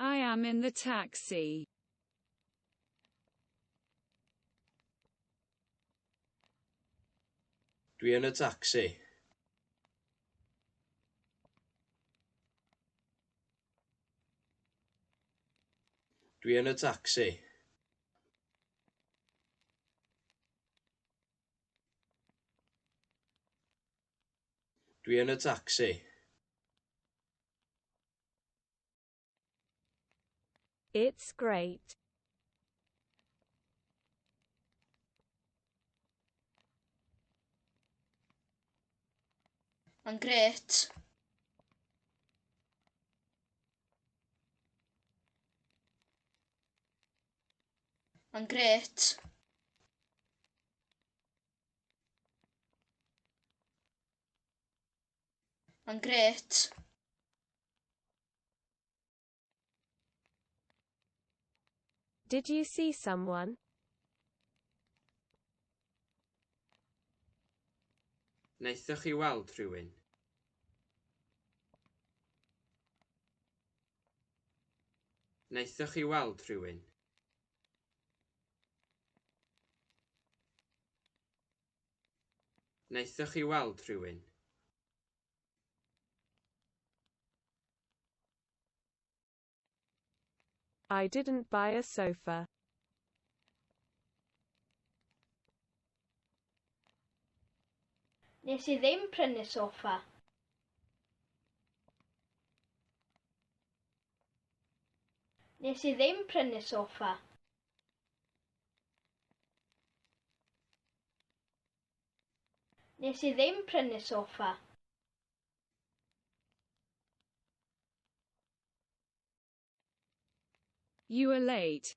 I am in the taxi. Dwi yn y tacsi. Dwi yn y tacsi. Dwi yn y tacsi. It's great. Mae'n gret. Mae'n gret. Mae'n gret. Did you see someone? Wnaethoch chi weld rhywun? Wnaethoch chi weld rhywun? Wnaethoch chi weld rhywun? I didn't buy a sofa. Nes i ddim prynu soffa. Nes i ddim prynu sofa. Nes i ddim prynu sofa. You are late.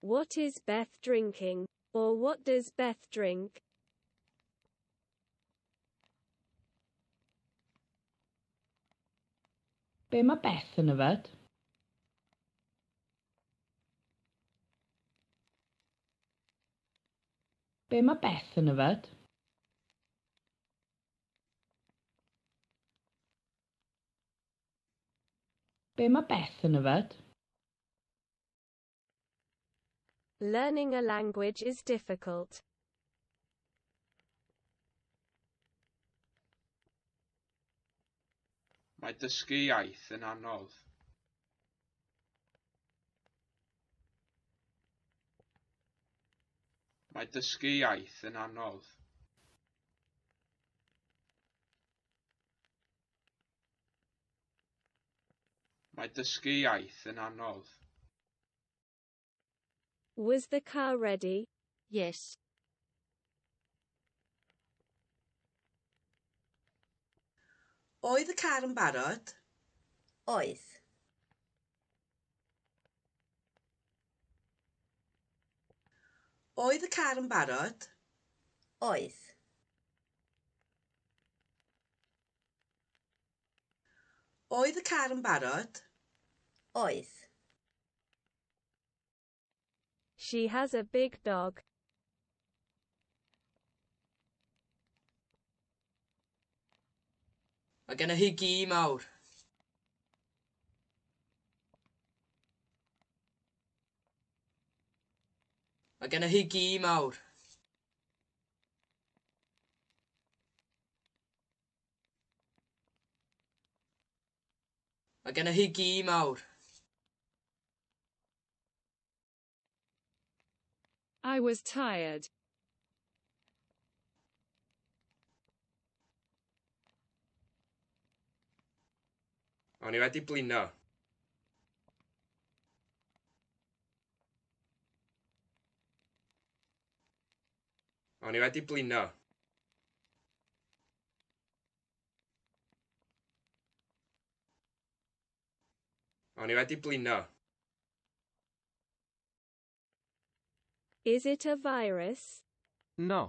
What is Beth drinking? Or what does Beth drink? Be mae Beth yn yfed? Be mae Beth yn yfed? Be mae Beth yn yfed? Learning a language is difficult. Mae dysgu iaith yn anodd. Mae dysgu iaith yn anodd. Mae dysgu iaith yn anodd. Was the car ready? Yes. Oedd y car yn barod? Oedd. Oedd y car yn barod? Oedd. Oedd y car yn barod? Oedd. She has a big dog. Mae gennych chi gi mawr. Mae gennych chi gi mawr. Mae gennych chi gi mawr. I was tired. O'n i wedi blino. O'n i wedi blino. O'n i wedi blino. Is it a virus? No.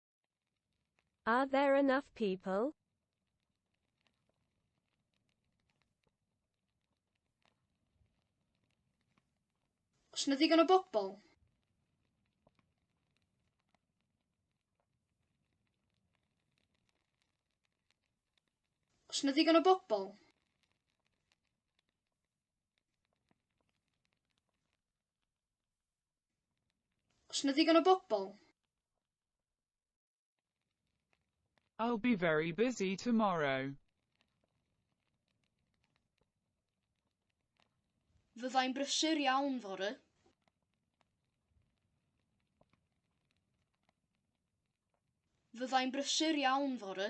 Are there enough people? Os na ddigon o bobl. Os na ddigon o bobl. Os na ddigon o bobl? I'll be very busy tomorrow. Fyddai'n brysur iawn fory. Fyddai'n brysur iawn fory.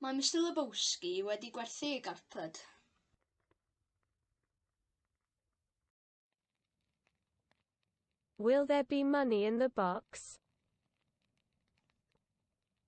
Mae Mister Lebowski wedi gwerthu ei garped. Will there be money in the box?